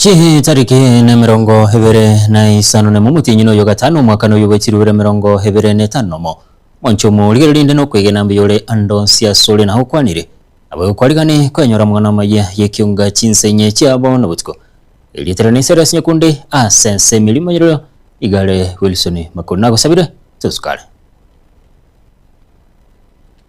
Chihi tariki na emerongo ebere na isano nemo omotienyi noyo gatano omwaka noyo bwechirwe bire emerongo ebere na etano nomo monche omo rigerio rinde nokwegena mbuya ore ando nsi asore naho okwanire nabo ekwarigane kwenyora amang'ana amaya yekionga chinsa inye chiabo na botuko erieta rane nse rase nyekunde ase ense emerimo yerorio igare Wilson Makori nagosabire tosukare.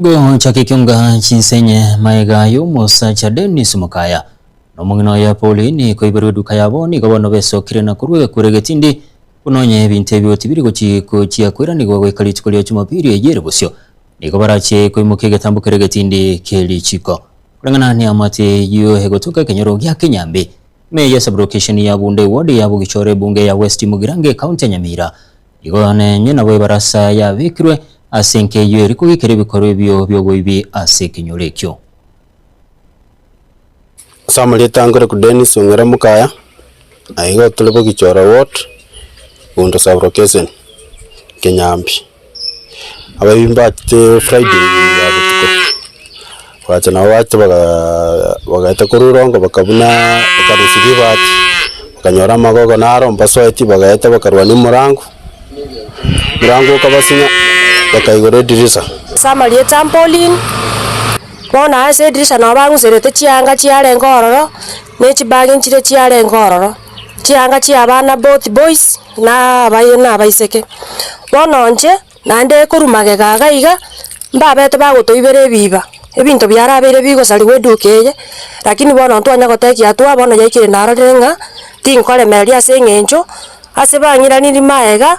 Bwegochakekionga chinsenye maega y'omosacha Dennis Mukaya, na omong'ina oye Pauline koiberwa eduka yabo nigo bono besokire na korwa egekure egetindi buna onye ebinto ebio tibiri gochi gochia koiranigwa goika rituko ria Jumapili eye ere bosio nigo barachie koimokia egetambo kere egetindi kie richiko. Koreng'ana neamate eyio egotoka ekenyoro gia Kinyambi, Ime ya Sublokesheni ya Bunde, Ward ya Bogichore, Ebunge ya West Mugirango, Ekaunti ya Nyamira, Igoro na ense nabo ebarasa yabekirwe ase enkeyio eria kogikera ebikorwa ebio bi'oboibi ase ekenyoro ekio. Ase amarieta ankore ku Dennis Ong'era Mukaya, na igo tore Bogichora ward, Bondo sub location, Kinyambi. Abaibi mbachete Friday ya botuko. Bagacha nabo bagacha bagaa bagaeta korwa erongo bakabuna ekanisa ribati, bakanyora amagogo naro mbasoeti bagaeta bakarwania omorango, omorango okabasinya bakaigora edirisa. Ase amarie trampoline, bono ase edirisa nabo bang'userete chianga chiarenge ororo, ne chibagi nchire chiarenge ororo, chianga chia abana both boys na abayi na abaiseke. Bono inche. Naende ekorwa magega aga iga, mbabete bagotoibera ebiiba, ebinto biarabeire bigosarigwa eduuka eye, lakini bono ntitwanya gotekia atua, bono yaikire narorire ng'a tinkoremereria ase eng'encho ase bang'iranirie magega,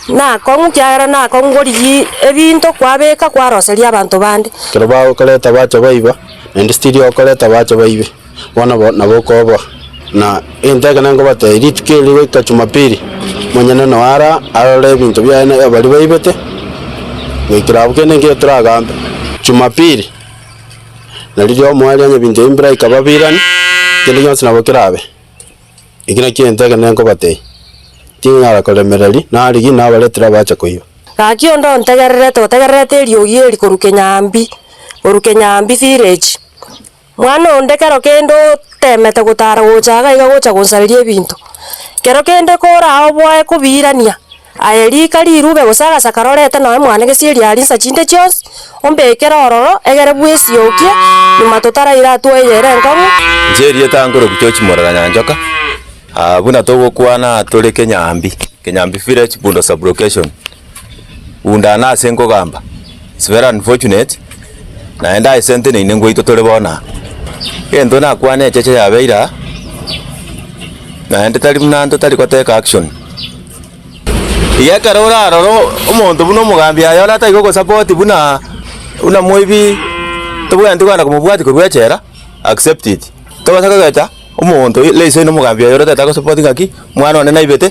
na akong'u ekiagera na akong'u korigia ebinto kwabeka kwaroseria abanto bande. Ekero bagokoreta bacha baiba, naende stiri okoreta bacha baibe. Bono nabokoboa, na egento ekio nenkobateebia, rituko eri goika Jumapili, monyene noe ara arore ebinto biaye na ebio baria baibete, goikera abwo kende nkere toragambe. Jumapili, na riria omoerio onye ebinto ebi mbiraika babirani, kende gionsi nabo kerabe. Eki nakio egento ekio nenkobateebia, Tinyara koremereria, nari ki, nabaretire abacha koiba. Gaki onde ontegererete, otegererete eriogi eri korwa Kenyambi, korwa Kenyambi village. Mwana onde kero kende oteemete gotaara gocha iga na iga gocha gonsaberia ebinto, kero kende koraa oboe kobiirania, aye rika rirube gose agasakara orente nonye mwane gesieri aria nsa chinde chionsi, ombeekere ororo egere bwesiokie, nyuma totaraire aa twaire ere enkong'u. Inche erieta ankore Obuchochi morera Nyanchoka, buna togokwana tore Kenyambi, Kenyambi Village, Bundo Sub-location. Bunda na ase nkogamba it's very unfortunate naende aye sente neine ngoito tore bono aa. Egento nakwane echeche yabeire aa naende tari buna anto tari goteka action. Iga ekero orarora o- omonto buna omogambi aye ore atari gogosupport buna buna moibi tobwenereti kogenda komobwati korwa echela accept it. Tobasa kogecha omonto i- raiser inomogambi oyo ore tatagosupport ng'aki mwana one naibete.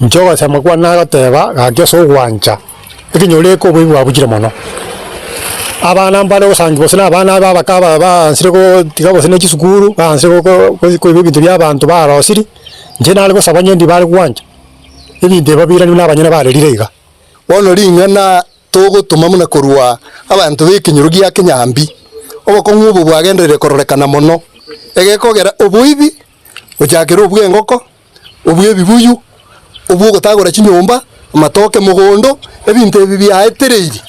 Inche ogosema kwane nagoteeba, Gaki ase ogwancha ekenyoro eke oboibi bwabuchire mono. Abana mbare ogosangi gose na abana abe abake aba baansire gotiga gose ne chisukuru, baansire go koiba ebinto bia abanto barosirie, inche nare gosaba onye ndibare gwancha ebinto ebi babiranwe na abanyene barerire iga. Bono ring'ana togotoma buna korwa abanto b'ekenyoro gia Kinyambi, obokong'u obo bwagendereire kororekana mono, egekogera oboibi gochakera obw'engoko, obua ebibuyu, obua ogotagora chinyomba, amatoke, emogondo, ebinto ebi biaetereirie.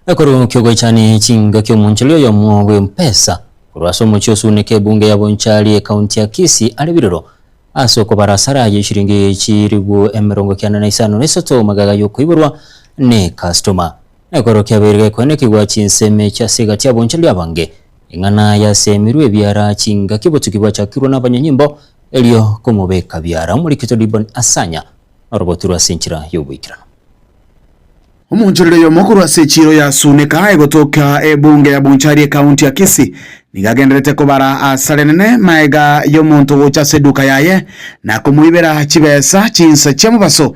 Ekorwa ki'ogoichania echinga ki'omonchori oyomo bw'empesa korwa ase omochie osuuneka ebunge ya Bonchari ekaunti ya Kisii are birero ase okobara asara aye chiringi chiribu emerongo kiana na isano na isato magaga y'okoiborwa ne customa. Ekorwa kiabeire gekoenekigwa chinsemi chi'ase egati ya bonchari abange. Eng'ana yasemirwe ebiara chingaki obotuki bwachakirwe nabanyonyimbo erio komobeka biara omorikito Dibon Asanya orobotu rwa ase enchera y'oboikeranu. Omonchorori oyomo korwa ase echiiro ya Sunika egotoka ebunge ya Bonchari ekaunti ya Kisii nigo agendererete kobara asare nene magega y'omonto gocha ase eduka yaye na komoibera chibesa chinsa chia mobaso.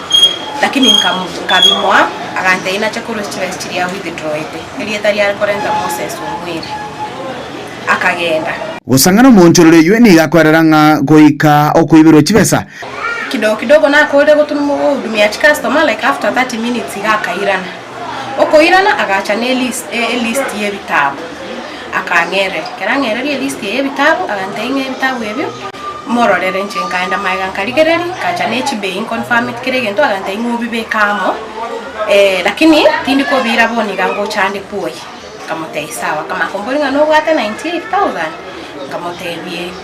Lakini nkabimoa, agantebia nache korwa chibesa chiria withdrawete, erieta riare korenta Moses omweri. Akagenda. Gosang'ana omoonchorori oyio nigo akoerera ng'a goika okoiberwa chibesa. Kidogo kidogo nakoorire goturwa mogohudumia chicustomers like after 30 minutes iga akairana. Okoirana agacha ne elisti y'ebitabu, akang'erera. Ekero ang'ereire elisti eye y'ebitabu, agantebia ng'a ebitabu ebio mororere. Inche nkaenda magega nkarigereria, nkacha ne chibei nconfirm it kera egento, agantebia ng'a obibeke amo, lakini tindi kobiira bono iga ngochandekwa oyi. Nkamotebia sawa. Akamanya komboria ng'a nobwate ninety eight thousand? Nkamotebia ee.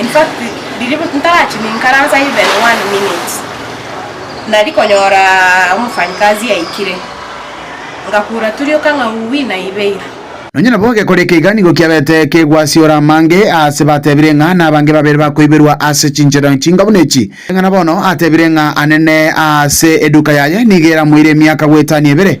In fact, riria ntarachimia inkaransa even one minute, nari konyora omofanyikazi aikire, ngakura turioka ng'a uwi na ibeiru. Nonya nabo gekoreka iga nigo kiabete kegwasiora amange aase batebire ng'a nabange babere bakoiberwa ase chinchera chinga buna echi. Eng'ana bono atebire ng'a anene aase eduka yaye nigo eramoire emiaka goetania ebere.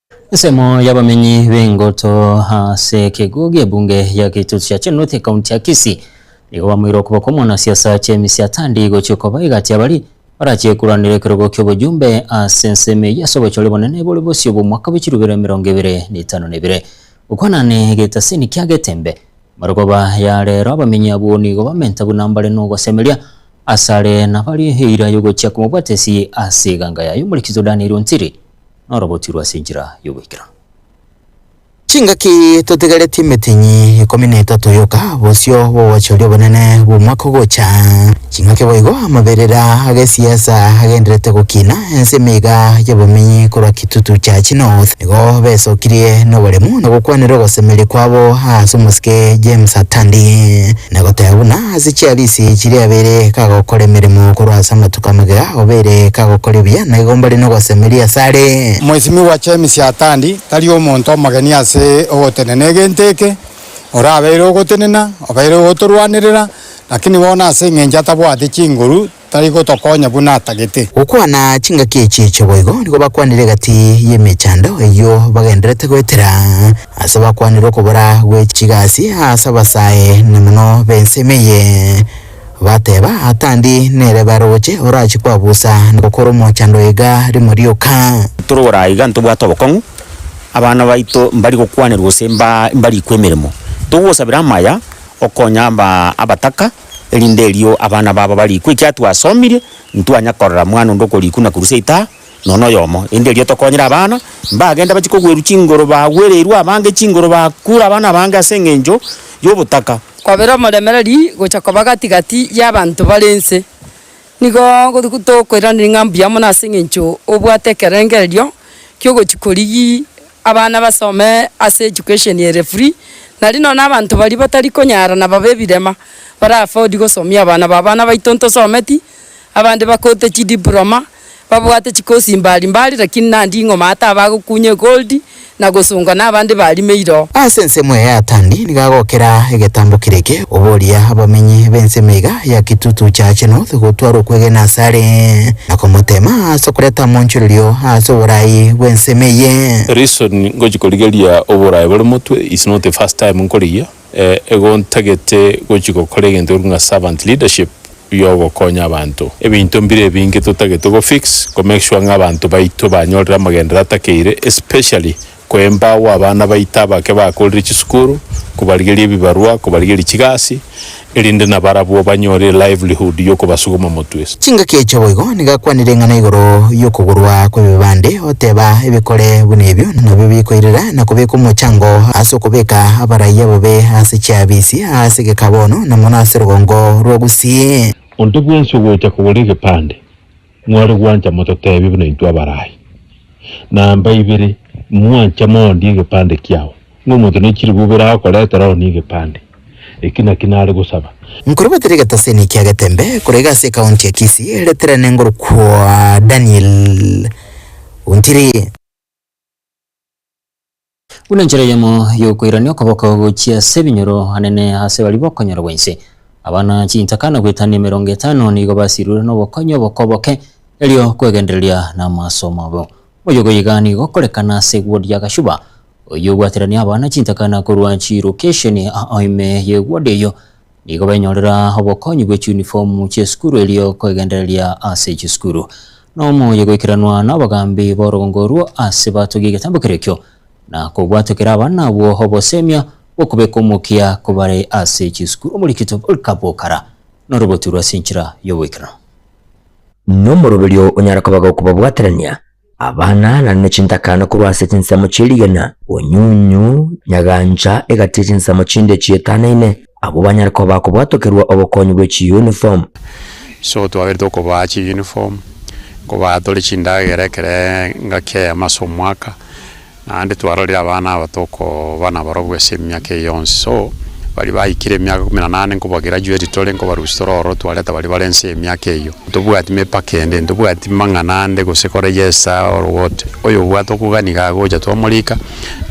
Ensemo y'abamenyi b'engoto ase ekeguo gi'ebunge ya Kitutu yachenurete ekaunti ya Kisii. Nigo bamoire okoboko omwanasiasa James Atandi gochia koba egati y'abaria barachie koranera ekerogo ki'obojumbe ase ensemo eyio ase obochore bonene bore bosio bw'omwaka bwe chirubero emerongo ebere na etano na ebere. Gokwana ne egetasini kia getembe, amarogoba ya rero abamenyi abwo nigo bamenta buna mbare n'ogosemeria asare nabarie eira y'ogochia komobwatesi ase eganga yaye Omoriki Jordan Iruntiri. noroboti rwa ase enchera y'ogoikera. Chingaki totigaretie emetinyi ikomi na etato yoka bosio bw'ogoachoria obonene bw'omwaka ogocha. Chingaki boigo amaberera agesiasa agenderete gokina ense emeiga y'abomenyi korwa Kitutu Church North nigo besokirie noboremu na gokwanera ogosemeria kwabo ase omosike James Atandi na goteba buna Ase chiarisi chiria abere kagokora emeremo korwa ase amatuko amagega, obeire kagokora ebiya, na igomba rinde ogosemeria ase are. Mwesimigwa James Atandi tari omonto omogeni ase ogotenena egento eke, orabeire ogotenena, obeire ogotorwanerera, lakini bono ase engencho atabwate chinguru, tari gotokonya buna atagete. Gokwana chingaki echi echo boigo nigo bakwanire egati y'emechando eyio bagenderete goetera, ase bakwanire okobora gwe chigasi ase abasae na mono b'ensemo eye, bateba, Atandi nere baroche orachie kwabusa na gokora omochando oyo iga rimo rioka. Torora iga ntobwate obokong'u, abana baito mbari gokwanerwa gose mba mbarikwe emeremo. Togosabera amaya okonya aba abataka. erinde erio abana babo barikwe. Ekiagera twasomirie, ntitwanya korora mwana onde okorikwa na korusia itaha, nonya noyomo. Erinde erio tokonyere abana, mbagende bachie kogwerwa chingoro, bagwereirwe abange chingoro, bakure abana abange ase engencho y'obotaka. Kwabera omoremereri gocha koba gati-gati y'abanto bare ense. Nigo tokoiraneria ng'a mbuya mono ase engencho obwate ekerengererio ki'ogochia korigia. Abana basome ase education ere free nari nonya na abanto baria batari konyara na babe ebirema bara afford gosomia abana babo. Abana baito ntosometi abande bakote chi diploma babwate chi course mbari mbari lakini na nding'oma ata abagokunya egold na gosongwa na abande barimeire oo. Ase ensemo eye Atandi nigo agokera egetambo kere eke. Oboria abamenyi b'ensemo iga ya Kitutu Church North gotwara okwegena asare, na komotema ase okoreta moonchorerio ase oboraai bw'ensemo eye. Reason ngochia korigeria oboraai bore motwe is not the first time nkoriyia, ego ntagete gochia gokora egento gekoruga servant leadership yogokonya abanto. Ebinto mbire ebinge totagete go fix ko make sure ng'a abanto baito banyorire amagenderero atakeire especially Kwemba agwo abana baito abake bakorire chisukuru, kobarigeria ebibarua, kobarigeria chigasi, erinde nabarabwo banyore elivelihood y'okobasuguma motwe. Chingaki echo boigo nigakwanire eng'ana igoro y'okogorwa kw'ebibande, oteba, Ebikore buna ebio nabio bikoirera na kobeka omochango ase okobeka abaraiya bobe ase chiabisi, aase geka bono, na mono ase rogongo rwa Gusii. Onto bwensi ogocha kogora egepande. Mware gwancha mototeebie buna intwe abarai. Namba ibere, mwanche moondie egepande kiao, ng'a omonto ne chiribu ibere agokoretera one egepande. Eki naki nare gosaba. Nkorebatere egetosini ekia Getembe, korege ase ekaonti ya Kisii, reterane ngorokwa Daniel Ontiri. Buna enchera eyemo y'okoirania okoboko gochia ase ebinyoro anene ase baria bokonyorogwa inse, abana chintaka na goetania emerongo etano nigo basirirwe nobokonyi oboko boke, erio kwegendereria namasomo abo. Oyogo iga nigo okorekana ase wodi ya Gashuba, oyio obwaterania abana chintaka na korwa chiirokesheni ime ye wodi eyio nigo benyorera obokonyi bwe chiunifomu chi'esukuru erio kwegendereria ase chisukuru. Nomoyo goikeranwa n'abagambi b'orogongo orwo ase batogia egetambo keria ekio, na kobwatokera abana abwo obosemia bw'okobeka omokia kobare ase chisukuru omori Kitopoli Kabokara noroboti rw'ase enchera y'oboikeranu. Nomoroberio onyare koba gokobabwaterania Abana naende ne chintakana korwa ase chinsemo chie rigena, onyunyu, nyagancha, egati ye chinsemo chinde echietanaine, abwo banyare koba bakobwatokerwa obokonyi bwe chiyuniform. So twaberete okobaa chiyuniform, kobaa tore chindagera ekero engaki eyemo ase omwaka. Naende twarorire abana aba tokoba nabarobwo ase emiaka eye yonsi. So, baria baikire emiaka ikomi na nane nkobagerajueti tore nkobarusia tore ororo twareta baria bare nse y'emiaka eyio. Ntobwati mepaka ende, ntobwati mang'ana ande gose kore yes or what. Oyo obwate okogania iga agocha twamorika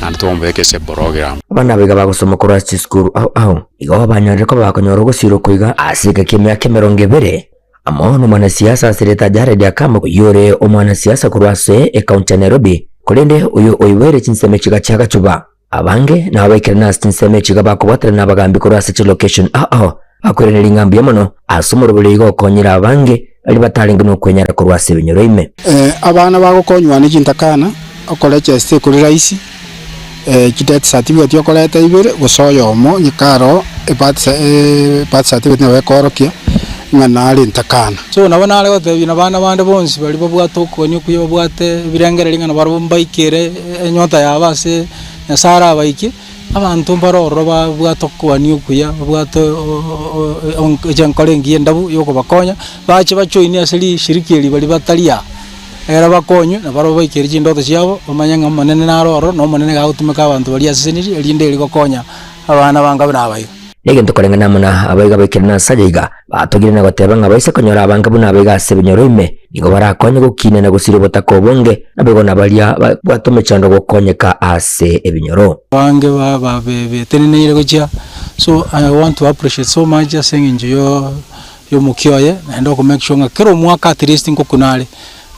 naende twamobeka ase eborogram. Abana aba iga bagosoma korwa ase chisukuru ao ao. Igo banyorire koba bakonyora ogosira oko iga ase egeka kia emiaka emerongo ebere. Amo nomwanasiasa ase reta Jared Akam oyore omwanasiasa korwa ase ekaunti ya Nairobi korende oyo oiboire chinsemo chiga chia gachuba. Abange nao baikirana ase chinsemo echiga bakoboterana abagambi korwa ase chilocation ao bakoirania ring'a mbuya mono ase omorobori oigo okonyire abange baria batarenge nokwenyara korwa ase ebinyoro ime. Abana bagokonywa ane chintakana, okorechesta ekori rahisi. Chideti certificate okoreta ibere gose oyomo onye karo ebirth ebirth certificate nabo ekoorokia ng'a narente akana. So nabo nare gotebia na bana bande bonsi baria babwate okogania okuya babwate ebirengererio ng'a nabarobwo mbaikere enyota yabo ase Nyasae arabaike, abanto mbare ororo babwate okogania okuya babwate enkoro engiya endabu yokobakonya bache ba join ase rishiriki eri baria batari aa. Ekero bakonywa, na barabwo baikeire chindoto chiabo, bamanye ng'a Omonene naro ororo, na Omonene iga agotumeka abanto baria asesenire, erinde erio bakonya abana ba Nkabe na abaiga. Negento koreng'ana amo na abaiga baikire na Asaja iga, batogire na goteba ng'a baise konyora abange buna abaiga ase ebinyoro ime, nigo barakonye gokiina na gosiria obotaka obonge, naboigo na baria babwate omechando gokonyeka ase ebinyoro. Abange ba babe beteneneire gochia so I want to appreciate so much ase eng'encho yo. y'omokia oye, naende oko make sure ng'a kera omwaka at least ngokuna are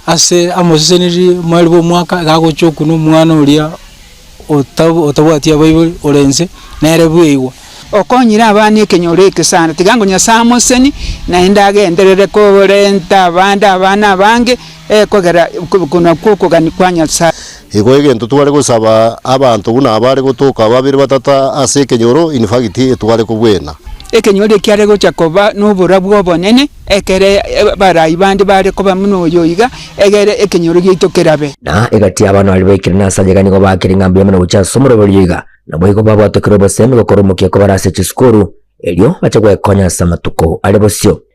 ase amoseseneri mweri bwa omwaka iga agochia okuna omwana oria ota otabwati abaibori ore inse nere bweigwa. Okonyire abana ekenyoro eke sana, tiga ngo Nyasae amoseni naende agenderere korenta abande abana abange, ee kogera kobokunwa kw'okogania kwa Nyasae. Igo egento tware gosaba abanto buna abare gotoka babere batata ase ekenyoro in fact etware kobwena. Ekenyoro ekiare gocha koba nobora bw'obonene ekere abarai bande bare koba buna oyo iga, egere ekenyoro giaito kerabe. Na egati abana baria baikire na Sanja iga nigo bakire ng'a mbuya mono gochia ase omorobe oria iga, naboigo babwatokire obosemi gokora omokia kobare ase chisukuru, erio bache gwekonya ase amatuko are bosio.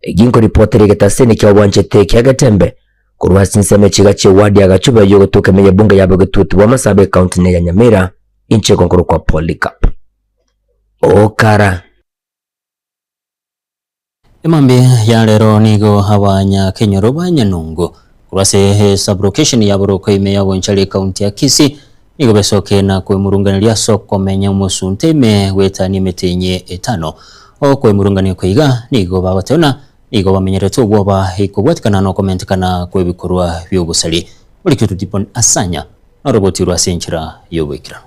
Eki nkoripotera egetaseni kia obwanchete kia getembe korwa ase ensemo echiga chie ward ya Gachobe yo gotoka ime y'ebunge ya Bogetutu bwa Masaaba ecounty ne ya Nyamira inche gokorokwa Polycarp Okara. Emambia ya rero nigo abanyakenyoro ba Nyanungu korwa ase esabulocation ya Boroko ime ya Bonchari ecounty ya Kisii Nigo besoke na kwemurunganeria ase okomenya omosunte ime goetania emeteenyi etano. Okwemurungania okwo iga nigo bagoteona nigo bamenyerete obwoba ikobwatikana nokomentekana kwebikorwa bi'obosari. Bori kyotuti buna asanya, noroboti rwo ase enchera y'oboikeranu.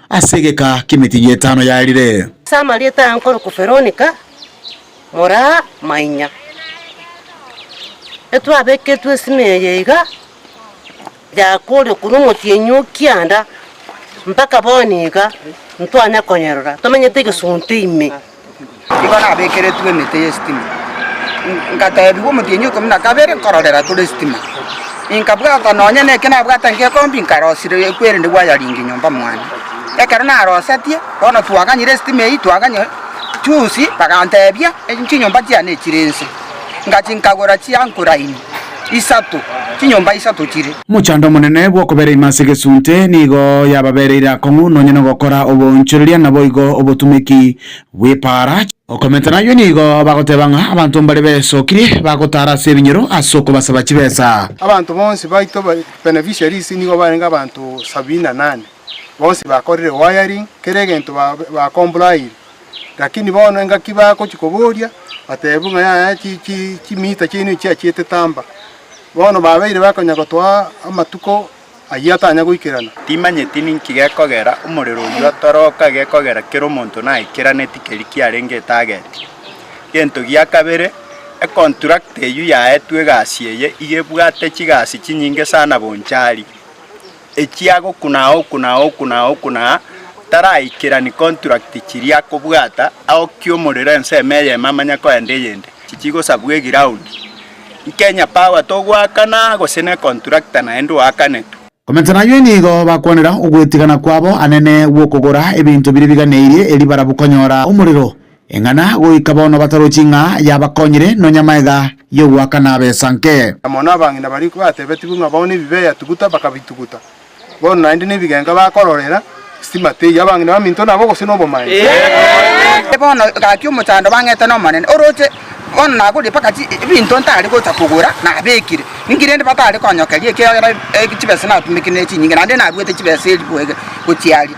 ase egeka ki'emetienyi etano yarire. Ase amarieta aya nkorokwa Veronica moraa mainya. Etwabeketwe esime eye iga yakoorire korwa omotienyi o kianda mpaka bono iga ntwanya konyerora tomenyete egesunte ime. Nigo nabekeretwe emete y'esitima, ngateebigwa omotienyi okomi na kabere, nkororera tore esitima. Inkabwata nonya neke nabwate ng'ekombi, nkarosire ekwerende gwayaringia nyomba mwane. Ekero narosetie, bono twaganyire esitima eyio, twaganya chusi, baganteebia chinyomba chiane chire inse. Ngachia nkagora chi'anchor line. isato, chinyomba isato chire. Omochando omonene bw'okobera ime ase egesunte nigo yababereire akong'u nonya nogokora oboonchoreria naboigo obotumeki bw'epaara. Okomenta nayio nigo bagoteba ng'a abanto mbare besokirie bagotaara ase ebinyoro ase okobasaba chibesa. Abanto bonsi baito beneficiaries nigo barenge abanto sabini na nane, bonsi bakorire wiring, kera egento bakomplyire. Lakini bono engaki bagochia koboria, bateebwe ng'a yaya chi- chi- chimiita chiaino echi chiachiete tamba. Bono babeire bakonyara gotoa amatuko ayio atanya goikerana. Timanyeti ninki gekogera omorero oyio otoroka gekogera kera omonto naikirane tikeri kiarenge etageti. Gento gia kabere, econtract eyio yaetwe egasi eye iga ebwate chigasi chinyinge sana bonchari. ekiagokuna agokuna agokuna agokuna taraikerani contract chiria akobwata agokia omorero ensemo eyemo amanya koenda eyende chichigosabwa eground Kenya power togoakana gose ne contractor naende oakanetwe. Komensa nayio nigo bakwanera ogwetigana kwabo anene gw'okogora ebinto biria biganeirie eri barabwo konyora omorero Eng'ana goika bono batarochi ng'a yabakonyire, nonya maega y'ogoaka nabe esanke. Na mono abang'ina baria batebetigwe ng'a bao nebibe eyatuguta bakabituguta, bono naende nebigenga bakororera sitima teiyo. Abang'ina baminto nabo gose nobomanyi. Bono gaki omochando bang'ete n'Omonene oroche, bono nagorie mpaka ebinto ntari gocha kogora nabekire. Ninki rende batari konyokeria ekiagera chibesa natumekire nere chinyinge, naende naruete chibesa elfu ege gochiaria?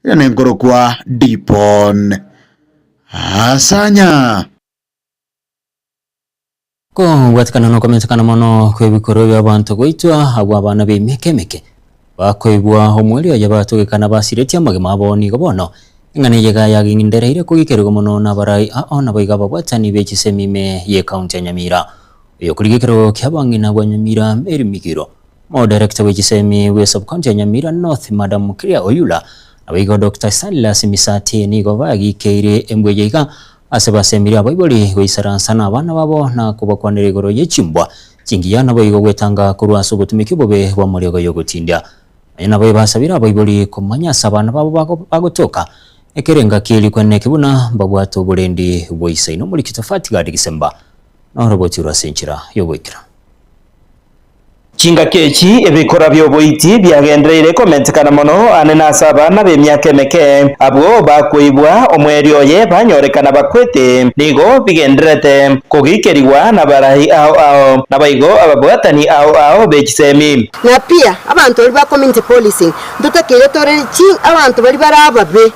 Iga nenkorokwa Dipon. Asanya. Kobwatekana nokometekana mono kw'ebikorwa bi'abaanto goitwa agwo abana b'emiaka emeke bakoigwa omweri oye batogeka na basiretie amagima abo nigo bono eng'ana eye iga yagendereire korigerigwa mono nabarai ao naboigo ababwatani be chisemi ime ye county ya Nyamira. Oyokorigekerwa gokia abang'ina bwa Nyamira Mary Migiro Omodirekta bwe chisemi bwe subcounty ya Nyamira North Madam Clea Oyula nabo igo Doctor Silas Misati nigo bagikeire embuya iga ase basemiri abaibori goisaransa nabana babo na kobakwanera igoro ye chimbwa chingiya naboigo gwetanga korwa ase obotumiki obobe bwa moriogo yogotindia. Nonya nabo ebasabire abaibori komanya ase abana babo bagotoka ekero engaki eri kwenene eki buna mbabwate oborendi bwa Isaino Omorikito Fatgard Gisemba na oroboti rwa ase enchera yogoikera. Chingaki echi ebikora bi'oboiti biagendereire komentekana mono aane na ase abana b'emiaka emeke. Abwo bakoigwa omwerio oye banyorekana bakwete nigo bigendererete kogiikerigwa nabaraai ao ao, naboigo ababwatani ao ao be chisemi. Na pia, abanto baria ba community policing ntotakeire tore chi abanto baria bare ababe.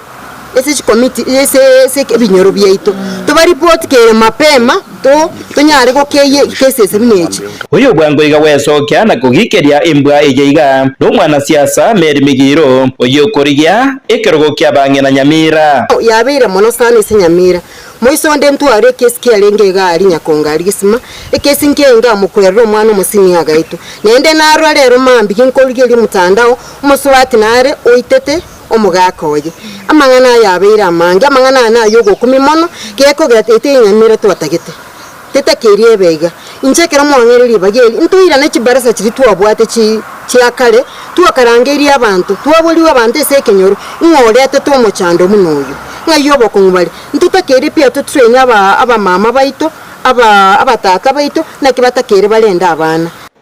ase chikomiti ase ase ebinyoro biaito, tobaripoti kere mapema to tonyare gokeyia cases buna echi. Oyo bwango iga gwesokia na kogikeria embwa eye iga nomwana siasa Mary Migiro oyio okorigia ekerogo kia bang'ina Nyamira. Yabeire mono sana ase Nyamira. Moiso onde ntware ekesi kiarenge iga aria Nyakongo aria gisima, ekesi nkiainga amokwerera omwana omosini agaitwa. Naende narora rero mambia ginkorigeria mtandao, omosubati nare oitete. omogaaka oye. Amang'ana aya abeire amange, amang'ana aya naye ogokumia mono, gekogera ete enyama eria twatagete, tetakeria ebe iga. Inche ekero mwang'eire ribaga eri, ntoirane chibarasa chiria twabwate chi chia kare, twakarangeirie abanto, twaborigwe abanto ase ekenyoro, ng'a oretete omochando buna oyo, ng'ai obokong'u bare. Ntotakeire pi atotraine aba abamama baito, aba abatata baito, naki batakeire barende abana.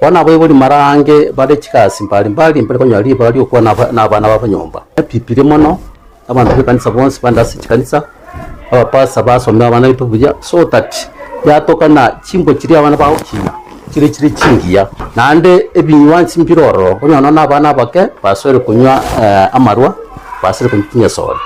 Bono abaibori marange bare chigasi mbari mbari mbare konyora ribaga ri'okobua na aba- na abana babo nyomba. Epipirie mono, abanto b'ekanisa bonsi bande ase chikanisa, abapasa basome abana baito buya, so that yatoka na chimbo chiria abana bagokina chire chire chingiya. Naende ebinywa nsi mbire ororo, okonyora nonya na abana abake basoire konywa eh, amarwa, basire konywa chinyesore.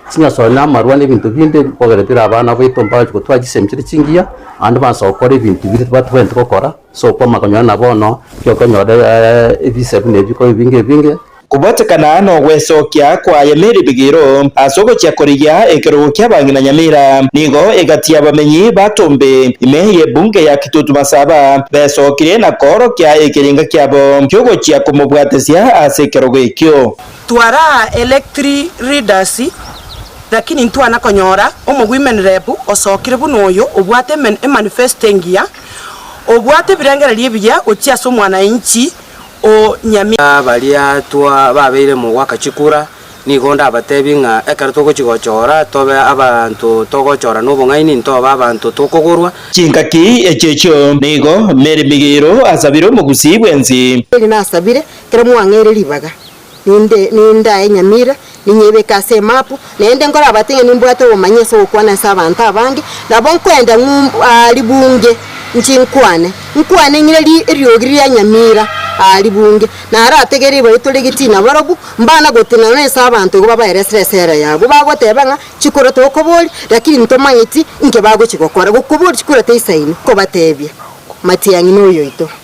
Chinyesore na amarwa na ebinto binde bikogera bire abana baito mbache gotwara chisemi chire chingiya, naende mbaanse gokora ebinto biria tibatwenereti gokora. Sokobwama konyora na bono, tiokonyora ebise buna ebi ko ebinge ebinge. Kobwatekana nogwesokia kwaye Meribigiro ase ogochia korigia ekerogo kia bang'ina Nyamira, nigo egati y'abamenyi ba Tombe ime y'ebunge ya Kitutu Masaba besokirie na koorokia ekeringa kiabo ki'ogochia komobwatesia ase ekerogo ekio. Twara electri readers lakini ntwana konyora omogwimenrebu osokire buna oyo obwate emanifesto engiya. Obwate ebirengererio ebiya gochia ase omwananchi o Nyamira. Baria twababeire mogoaka chikura, nigo ndabatebie ng'a ekero togochia gochora tobe abanto togochora nobong'aini, ntobe abanto tokogorwa. Chingaki echi'echio nigo, Meri Migiiro asabire omogusi bw'ensi. Meri nasabire, kera mwang'eire ribaga, Ninde nindae enyamira, ninyebeke ase emapu, naende nkorabate ng'a nimbwate obomanyi ase ogokwana ase abanto abange, nabo nkoenda ng'umb aa ribunge nchi nkwane, nkwane ng'ire ri eriogi ria nyamira aa ribunge, narategereri baitore egetina barobwo, mbana gotenena nense abanto igo babaeresere esera yabo, bagoteba ng'a chikura tokoboria, rakini ntomanyeti inki bagochi gokora, gokobori chikura teisaini, nkobatebia, Matiang'i noyoito.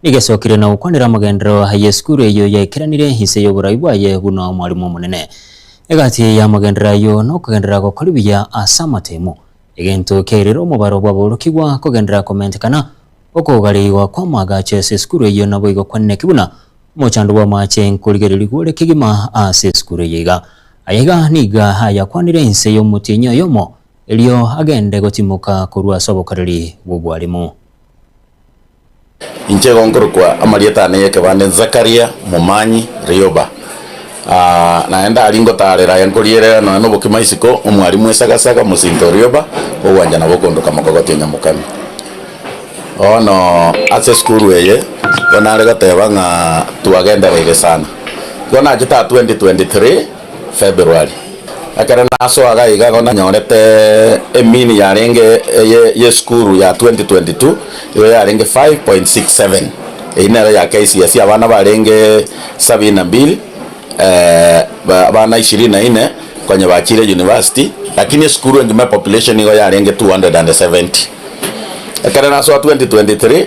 Nigesokire na gokwanera amagenderero a yesukuru eyio yaikeranire inse y'oborai bwaye buna omwarimu omonene. Egati y'amagenderero ayio nokogenderera gokori buya ase amatemo, egento kiairire omobaro bw'aborokigwa, kogenderera komentekana, okogarigwa kw'amaagacho ase esukuru eyio naboigo kwaneneki buna omochando bw'amaache nkorigereria gore kegima ase esukuru eyio iga. Aya iga niga ayakwanire inse y'omotienyi oyomo erio agende gotimoka korwa ase obokoreri bw'obwarimu. Inche igo nkorokwa amarieta aane y'ekebande Zakaria Momanyi Rioba. Naende ndari ngotaarera aya nkorierera nonya nobokima isiko, omwarimu esagasaga, mosinto o rioba, ogwanchana gokondoka mokogotia nyamokani. Bono ase esukuru eye igo nare goteba ng'a twagendereire sana. Igo nachete 2023. February, ekero nasoaga iga igo nanyorete emini yarenge eye y'esukuru ya 2022 igo yarenge 5.67 eyio nero ya KCSE abana barenge sabini na mbili abana ishirini na ine konya bachire university lakini esukuru engima epopulation igo yarenge 270 ekero nasoa 2023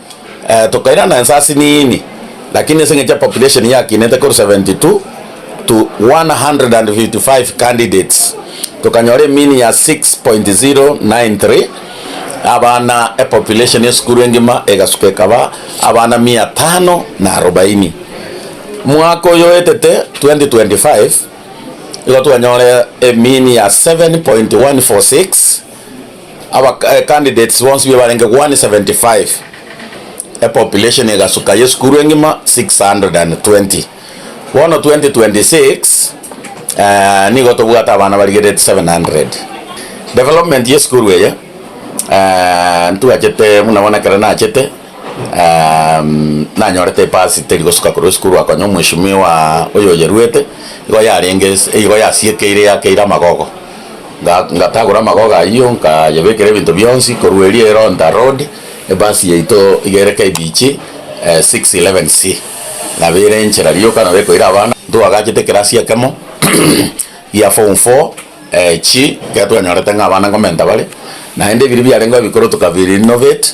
tokairana ense ase niini, lakini ase eng'encho ya population yakinete korwa 72 to 155 candidates, tokanyora emean ya 6.093 abana, epopulation esukuru engima egasuka ekaba abana mia tano na arobaini. Mwaka oyo oetete, 2025, igo twanyora emean ya 7.146. Aba candidates bonsi bibarenge 175 epopulation egasuka yesukuru engima 620 bono 2026 nigo tobwate abana barigererete 700 development yesukuru eye ntwachete buna bono ekero nachete nanyorete epasi teri gosuka korwa esukuru akonya omweshimiwa oyoyeruete igo yarenge igo yasiekeire yakeire amagogo. nga- ngatagora amagogo ayio, nkayebekera ebinto bionsi korwa erio Eronda Road, ebasi yaito iga ere KBG 611C, nabo ere enchera rioka nabo ekoira abana, ntwagachete ekerasi ekemo gia form four chi, ekero twanyorete ng'a abana nkomenta bare, naende ebiria biarengeo ebikoro tokabi-renovate.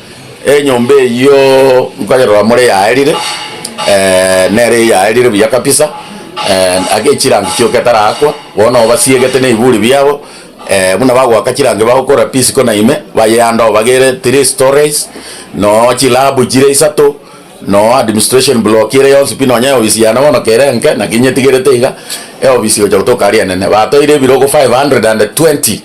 Enyomba eyio nkonyorora more yaerire, nere eyaerire buya kabisa, ake echirangi chio ketarakwa, bono nabo basiegete na ebiburi biabo, buna bagoaka chirangi bagokora pisiko na ime, bayeyanda oo bagere three storeys, nooo chilabu chire isato, nooo administration block ere yonsi pi nonya eofisi yane bono kere enke, naki nyetigerete iga, eofisi gocha gotoka aria enene. Batoire ebirogo five hundred and twenty.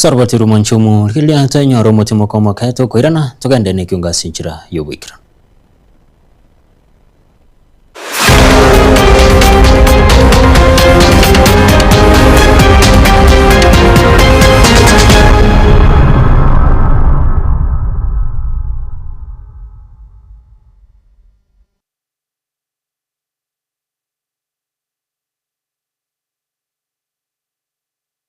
Saroboti romonche omo, rigereria twenyore omochie moka omoke, tokoirana, togende nekiunga ase enchera y'oboikeranu.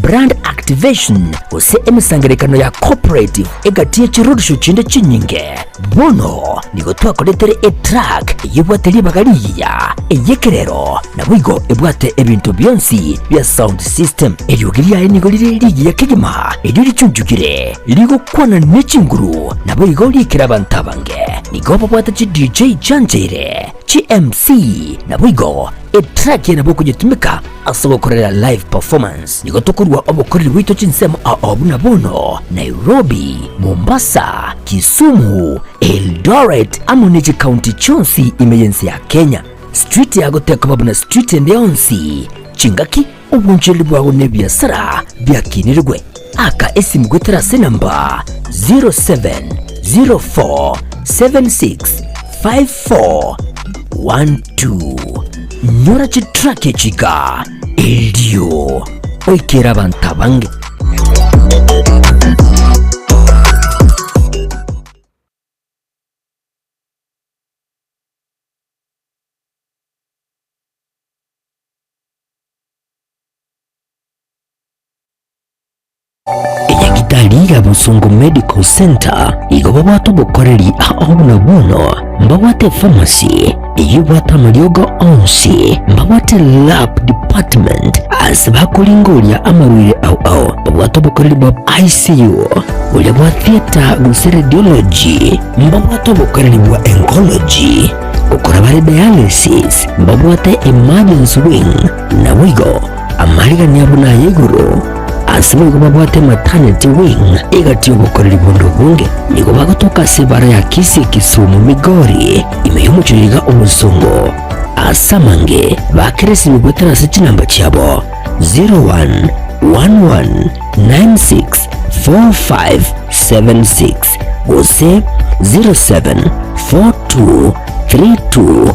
Brand activation, gose emesangererekano ya corporate egati ye chirorisho chinde chinyinge. Bono nigo twakoretire etrack eyebwate ribaga rigiya, eyekerero, naboigo ebwate ebinto bionsi bia sound system. Eriogi riaye nigo rire rigiya kegima erio richunchugire, rigokwana ne chinguru naboigo riikera abanto abange. Nigo babwate chi DJ chianchaire, chi MC, naboigo etrack yaye nabo okonyetumeka Ase gokorera live performance nigo tokorua obokoreri bwaito chinsemo ao buna bono, Nairobi, Mombasa, Kisumu, Eldoret amo ne chikaunti chionsi ime y'ense ya Kenya. Street yago tekoba buna street ende yonsi. Chingaki, obwanchoreri bwago na ebiasara biakinirigwe. Aka esimu goetera ase enamba 0704765412. Nyora chitrack echi iga, erio oikere abanto abange. Enyagitari ya Busungu Medical Centre igo babwate obokoreri ao buna bono, mbabwate efamasi eyio ebwate amariogo onsi, mbabwate lab department ase bakoringoria amarwaire ao ao, babwate obokoreri bwa ICU boria bwa theatre gose radiology, mbabwate obokoreri bwa oncology gokora bare dialysis, mbabwate emergency wing naboigo Amariganya buna aya igoro, ase boigo babwate mataneti wing egati y'obokoreri bonde obonge. Nigo bagotoka ase ebara ya Kisii, Kisumu, Migori, ime y'omochie iga o Nsong'o. Ase amange bakeresinwe goetera ase chinamba chiabo 0111964576 gose 0742324256.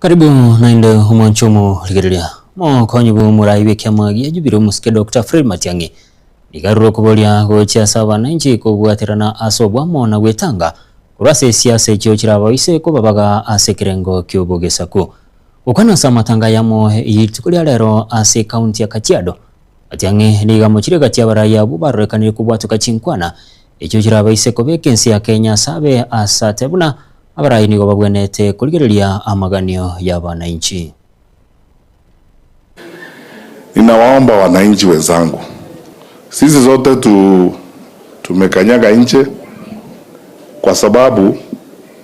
Karibu naende omwancho omorigereria. Mokonyi bw'omorai bw'ekiama gia Jubilee omosike Dokta Fred Matiang'i nigo arure okoboria gochia ase abananchi kobwaterana ase obwamo na gwetanga korwa ase esiasa echio chirabaise kobabaga ase ekerengo ki'obogesaku. Gokwana ase amatanga ayamo ya rituko ria rero ase ekaunti ya Kajiado, Gochia ng'e niga mochire gati y'abaraaia abwo barorekanirie kobwatoka chinkwana, echio chirabaise kobeka ense ya Kenya ase abe ase ate buna abaraai nigo babwenerete korigereria amaganio y'abananchi. Ninawaomba wananchi wenzangu, sisi sote tu tumekanyaga nje kwa sababu.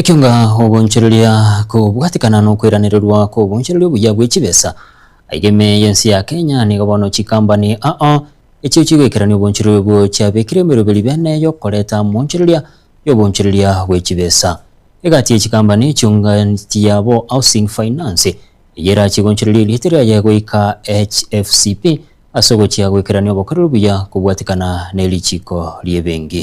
Ekiagera ogoonchoreria kobwatekana nokoiranererwa kw'oboonchoreria obuya bwe chibesa, aiga ime y'ense ya Kenya nigo bono chikambani aa echio chigoikerania oboonchoreria obwo chiabekire emeroberi bene y'okoreta moonchoreria y'oboonchoreria bwe chibesa. Egati ye chikambani echio ng'ati yabo Housing Finance, eyio erachie goonchoreria erieta riaye goika HFCP ase ogochia goikerania obokoreri obuya kobwatekana nerichiiko ri'ebenki.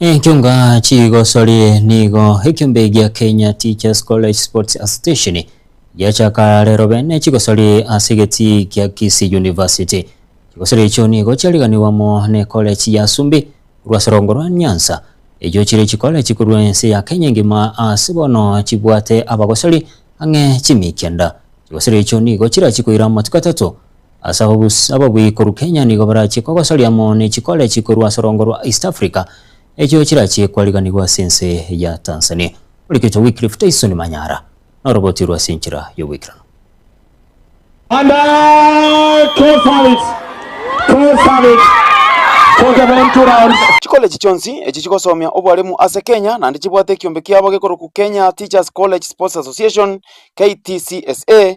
Enchunga chigosori nigo ekiombe gia Kenya Teachers College Sports Association giachaka rero bene chigosori ase egeti gia Kisii University. Chigosera echio nigo chiariganigwe amo nekore chi'Yasumbi korwa ase rongo rwa nyansa. Echio chire chikore chikorua ense ya Kenya engima ase bono chibwate abagosori ang'e chimi kenda. Chigosera echio nigo chirachie koira amatuko atato ase ababus ababui korwa Kenya nigo barachie kogosoria amo nechikore chikorua ase rongo rwa East Africa echio chirachie kwariganigwe ase ense ya Tanzania. Origetwe Wycliffe Tyson Manyara. noroboti rwa ase enchera y'ogoikeranu. And I close have it, close have it for the round two rounds. Chikoleji chionsi echi chigosomia obwalimu ase Kenya naende chibwate ekiombe kiabo gekorokwa Kenya Teachers College Sports Association, KTCSA,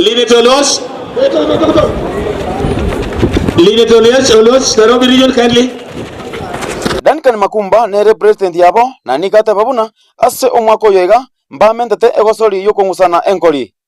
Linete Oloch. Linete Oloch, Oloch, Nairobi Region kindly. Duncan Makumba nere president yabo, na nigo ateba buna, Ase omwaka oyo iga, mbamentete egosori y'okong'usana enkori.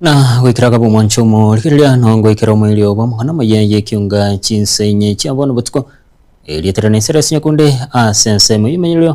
na goikera kaba omwancho omo rigereria no ngoikera omoiri obo omong'ana omoyia yekiunga chinsa inye chia bono botuko erietera na esera ase nyakunde ase ensemo y'emenyererio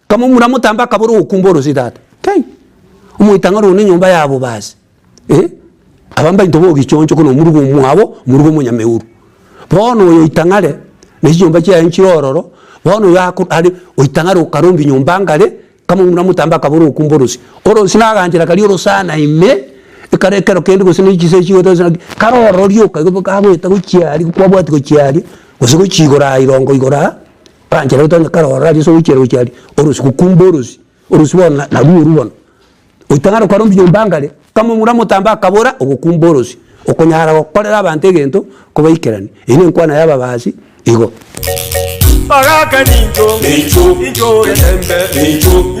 Kamomura motambe akabora ogokumba orosie tata Kai! Omoitang'ari one nyomba yabo basi eh! Aba mbainto bogichoncho kona omoruga omwabo omoruga omonyameuru. Bono oyo oitang'are ne chinyomba chiaye nchire ororo bono oyo ako are oitang'are okarombia nyomba ngare kamomura motambe akabora ogokumba orosie. Orosie naganchera karia orosana ime ekare ekero kende gose ne chisee chigote gose naki kare ororo rioka igo boka agoeta gochia aria kwabwati gochia aria gose gochia igoro aa irongo igoro aa Oranchera gete onye kare ororo aria ase ogoichera gochia aria, orosi gokumba orosi, orosi bono na narwo orwo bono. Goitang'ara okwarwa mbuya nyomba ngare, kama omura omotambe akabora ogokumba orosi, okonyara gokorera abanto egento kobaikeranie. Eyio nenkwana y'ababasi igo. Ogaka nincho, nincho, nincho ogetembe, nincho.